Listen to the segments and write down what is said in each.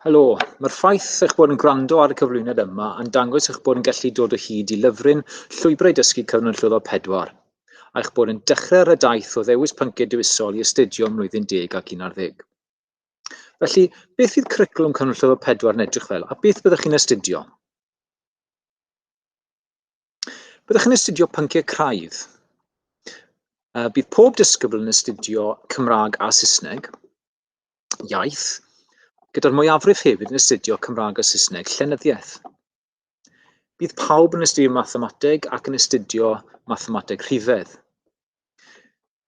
Helo, mae'r ffaith eich bod yn gwrando ar y cyflwyniad yma yn dangos eich bod yn gallu dod o hyd i lyfryn Llwybrau Dysgu Cyfnod Llwyddo 4, a'ch bod yn dechrau ar y daith o ddewis pynciau dewisol i astudio ym mlwyddyn deg ac un ar ddeg. Felly, beth fydd cwricwlwm Cyfnod Llwyddo 4 yn edrych fel, a beth byddwch chi'n astudio? Byddwch chi'n astudio pynciau craidd. Bydd pob disgybl yn astudio Cymraeg a Saesneg, iaith, gyda'r mwyafrif hefyd yn astudio Cymraeg a Saesneg llenyddiaeth. Bydd pawb yn astudio mathemateg ac yn astudio mathemateg rhifedd.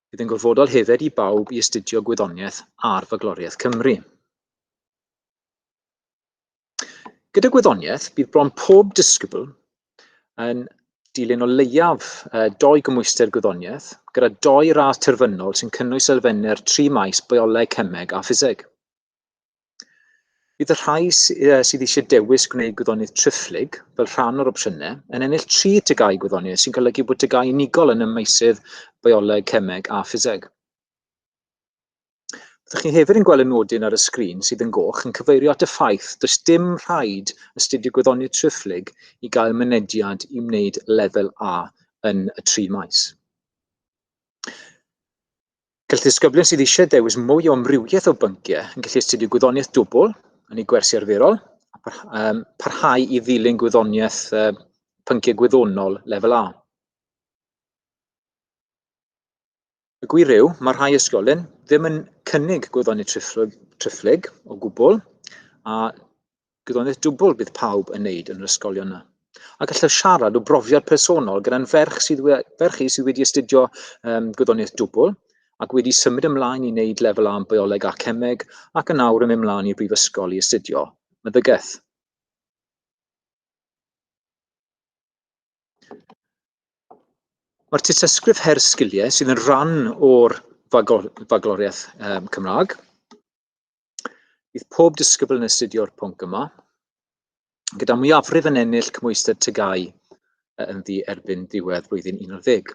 Bydd yn gorfodol hefyd i bawb i astudio gwyddoniaeth ar fagloriaeth Cymru. Gyda gwyddoniaeth, bydd bron pob disgybl yn dilyn o leiaf uh, doi gymwyster gwyddoniaeth, gyda doi radd terfynol sy'n cynnwys elfennau'r tri maes bioleg, cemeg a ffiseg. Bydd y rhai sydd eisiau dewis gwneud gwyddoniaeth triphlyg fel rhan o'r opsiynau yn ennill tri tygau gwyddoniaeth sy'n golygu bod tygau unigol yn y meysydd bioleg, cemeg a ffiseg. Ydych chi hefyd yn gweld y nodyn ar y sgrin sydd yn goch yn cyfeirio at y ffaith does dim rhaid astudio gwyddoniaeth triphlyg i gael mynediad i wneud lefel A yn y tri maes. Gall ddisgyblion sydd eisiau dewis mwy o amrywiaeth o bynciau yn gallu astudio gwyddoniaeth dwbl yn ei gwersi arferol a parhau i ddilyn gwyddoniaeth pynciau gwyddonol lefel A. Y gwir yw, mae rhai ysgolyn ddim yn cynnig gwyddonydd triphlyg, triphlyg o gwbl, a gwyddonydd dwbl bydd pawb yn wneud yn yr ysgolion yna. A gallaf siarad o brofiad personol gyda'n ferch sydd, ferch i sydd wedi astudio um, gwyddonydd dwbl ac wedi symud ymlaen i wneud lefel am bioleg a cemeg ac yn awr yn mynd ymlaen i'r brifysgol i astudio meddygaeth. Mae'r tystysgrif her sgiliau sydd yn rhan o'r fagloriaeth um, Cymraeg. Bydd pob disgybl yn astudio'r pwnc yma, gyda mwyafrif yn ennill cymwysted tygau yn ddi erbyn diwedd blwyddyn 11.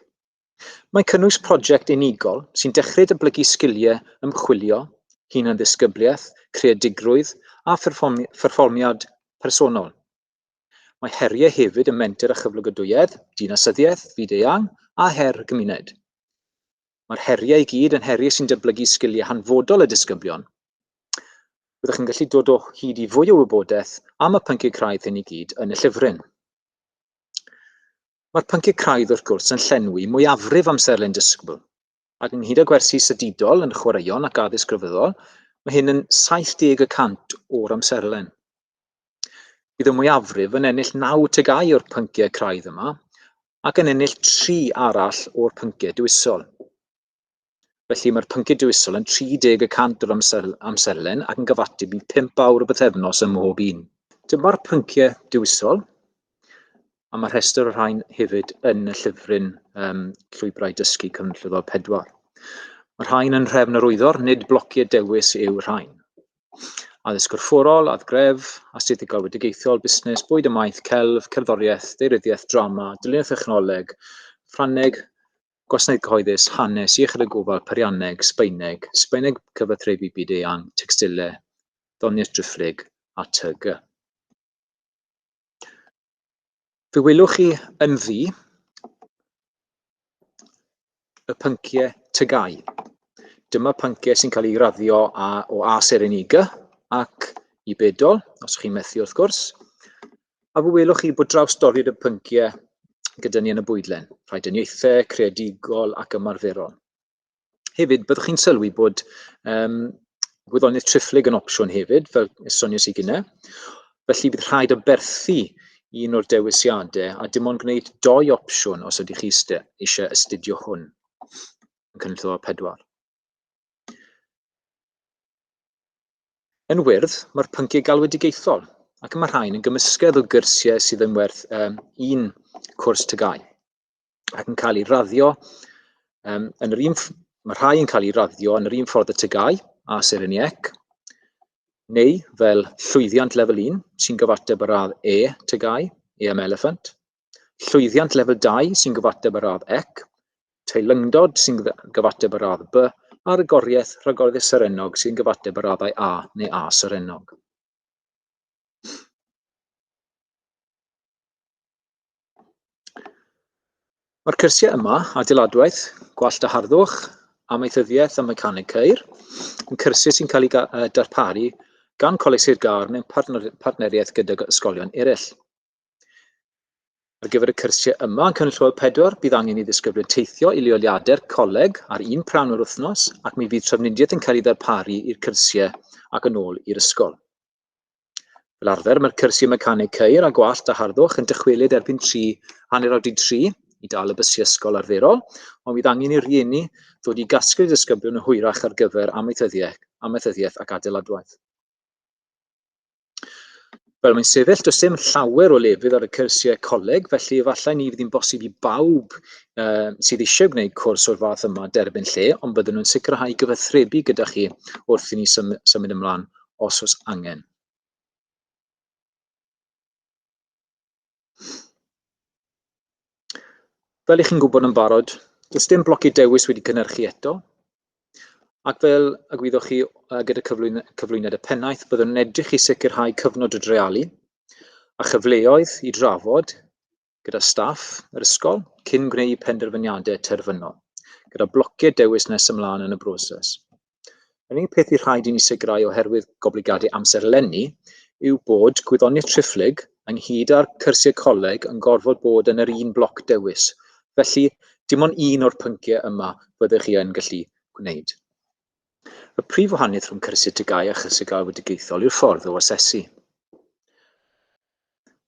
Mae cynnwys prosiect unigol sy'n dechrau dyblygu sgiliau ymchwilio, hunan-ddisgybliaeth, creadigrwydd a pherfformiad personol. Mae heriau hefyd ym menter a chyflogadwyedd, dinasyddiaeth, fyd-eang, a her y gymuned. Mae'r heriau i gyd yn heriau sy'n dyblygu sgiliau hanfodol y disgyblion. Byddwch yn gallu dod o hyd i fwy o wybodaeth am y pynciau craidd hyn i gyd yn y llyfryn. Mae'r pynciau craidd wrth gwrs yn llenwi mwyafrif amserlen disgybl, Ac ynghyd â gwersi sydidol yn chwaraeon ac addysg grefyddol, mae hyn yn 70 y cant o'r amserlen. Bydd y mwyafrif yn ennill naw tegau o'r pynciau craidd yma, ac yn ennill tri arall o'r pynciau dewisol. Felly mae'r pynciau dewisol yn 30 y cant o'r amser, amserlen ac yn gyfateb i 5 awr o bythefnos ym mhob un. Dyma'r pynciau dewisol. A mae rhestr o'r rhain hefyd yn y llyfryn um, Llwybrau Dysgu Cyfnllyddol 4. Mae rhain yn nhrefn yr wyddor, nid blociau dewis yw rhain. Addysg gorfforol, adgref, astudiaethau galwedigaethol, busnes, bwyd y maeth, celf, cerddoriaeth, deiryddiaeth, drama, dylunio thechnoleg, Ffrangeg, gwasanaeth cyhoeddus, hanes, iechyd y gofal, perianneg, Sbaeneg, Sbaeneg cyfathrebu byd eang, textilau, ddoniaeth driphlyg a tyg. Fe welwch chi yn ddu y pynciau tygau. Dyma pynciau sy'n cael ei raddio a, o A Sereniga ac i Bedol, os chi'n methu wrth gwrs. A fe welwch chi bod draws dorri'r y pynciau gyda ni yn y bwydlen, rhaid yn ieithau, creadigol ac ymarferol. Hefyd, byddwch chi'n sylwi bod um, gwyddoniaeth triphlyg yn opsiwn hefyd, fel soniais i gynnau. Felly bydd rhaid o berthu un o'r dewisiadau a dim ond gwneud doi opsiwn os ydych chi eisiau astudio hwn yn cynllun o pedwar. Yn wyrdd, mae'r pynciau galwedigaethol ac mae rhain yn gymysgedd o gyrsiau sydd yn werth um, un cwrs tygau. ac yn cael ei raddio um, yn yr un... Mae rhai yn cael ei raddio yn yr un ffordd y tygau a syr yn iec, neu fel llwyddiant lefel 1 sy'n gyfateb ar radd E tygau, E am elephant, llwyddiant lefel 2 sy'n gyfateb ar radd ec, teilyngdod sy'n gyfateb ar radd B, a'r agoriaeth rhagorddus serennog sy'n gyfateb ar raddau A neu A serennog. Mae'r cyrsiau yma, adeiladwaith, gwallt a harddwch, amaethyddiaeth a mecaneg ceir, yn cyrsiau sy'n cael eu darparu gan Coleg Sir Gâr mewn partneriaeth gydag ysgolion eraill. Ar gyfer y cyrsiau yma yn Cynllwel 4, bydd angen i ddisgyblion teithio i leoliadau'r coleg ar un pran o'r wythnos ac mi fydd trafnidiaeth yn cael ei ddarparu i'r cyrsiau ac yn ôl i'r ysgol. Fel arfer, mae'r cyrsiau mecaneg ceir a gwallt a harddwch yn dychwelyd erbyn 3, hanner awr di 3, i dal y bysiau ysgol arferol, ond bydd angen i rieni ddod i gasglu disgyblion yn hwyrach ar gyfer amaethyddiaeth ac adeiladwaith. Wel, mae'n sefyll, does dim llawer o lefydd ar y cyrsiau coleg, felly efallai ni fydd hi'n bosib i bawb uh, sydd eisiau gwneud cwrs o'r fath yma derbyn lle, ond byddwn nhw'n sicrhau gyfathrebu gyda chi wrth i ni symud ymlaen os oes angen. Fel i chi'n gwybod yn barod, does dim blocau dewis wedi cynhyrchu eto, ac fel y gwyddoch chi gyda cyflwyn, cyflwyniad y pennaeth, byddwn yn edrych i sicrhau cyfnod o drealu a chyfleoedd i drafod gyda staff yr ysgol cyn gwneud penderfyniadau terfynol, gyda blociau dewis nes ymlaen yn y broses. Yr unig peth i rhaid i ni sicrhau oherwydd goblygiadau amser lenni yw bod gwyddoniaeth triphlyg ynghyd â'r cyrsiau coleg yn gorfod bod yn yr un bloc dewis. Felly, dim ond un o'r pynciau yma fyddech chi yn gallu gwneud. Y prif wahaniaeth rhwng cyrsiau TGAU a chyrsiau gael wedigaethol yw'r ffordd o asesu.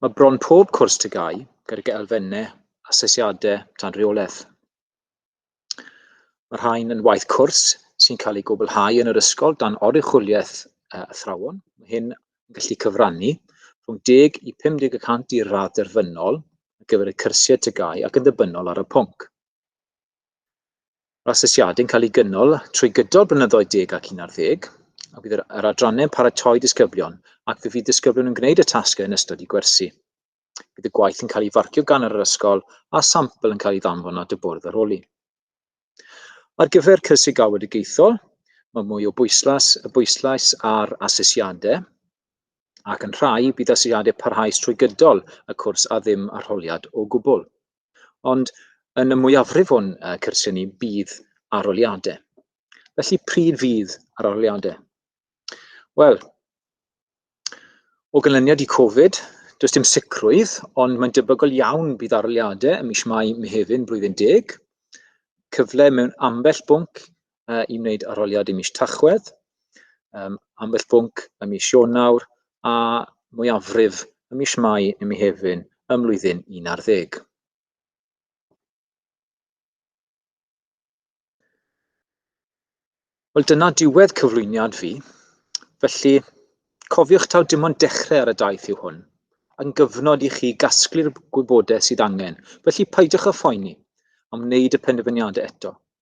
Mae bron pob cwrs TGAU gydag elfennau asesiadau dan reolaeth. Mae rhain yn waith cwrs sy'n cael ei gwblhau yn yr ysgol dan oruchwyliaeth uh, athrawon. Mae hyn yn gallu cyfrannu rhwng 10 i 50 y cant i'r radd derfynol ar gyfer y cyrsiau tygau ac yn ddibynnol ar y pwnc. Mae'r asesiadau'n cael eu gynnal trwy gydol blynyddoedd deg ac un ar ddeg, a bydd yr yr adrannau'n paratoi disgyblion ac fe fydd disgyblion yn gwneud y tasgau yn ystod eu gwersi. Bydd y gwaith yn cael ei farcio gan yr ysgol a sampl yn cael ei ddanfon at y bwrdd aroli. Ar gyfer cyrsiau galwedigaethol, mae mwy o bwyslais, y bwyslais ar asesiadau, ac yn rhai bydd asesiadau parhaus trwy gydol y cwrs a ddim arholiad o gwbl. Ond yn y mwyafrif o'n cyrsiau ni bydd arholiadau. Felly pryd fydd yr arholiadau? Wel, o ganlyniad i Covid, does dim sicrwydd, ond mae'n debygol iawn bydd arholiadau ym mis Mai, Mehefin, blwyddyn deg, cyfle mewn ambell bwnc uh, i wneud arholiad i mis Tachwedd, um, ambell bwnc y mis Ionawr a mwyafrif y mis Mai neu mi hefyn ym mlwyddyn 11. Wel, dyna diwedd cyflwyniad fi. Felly, cofiwch taw dim ond dechrau ar y daith yw hwn, yn gyfnod i chi gasglu'r gwybodaeth sydd angen. Felly, peidiwch â phoeni am wneud y penderfyniadau eto.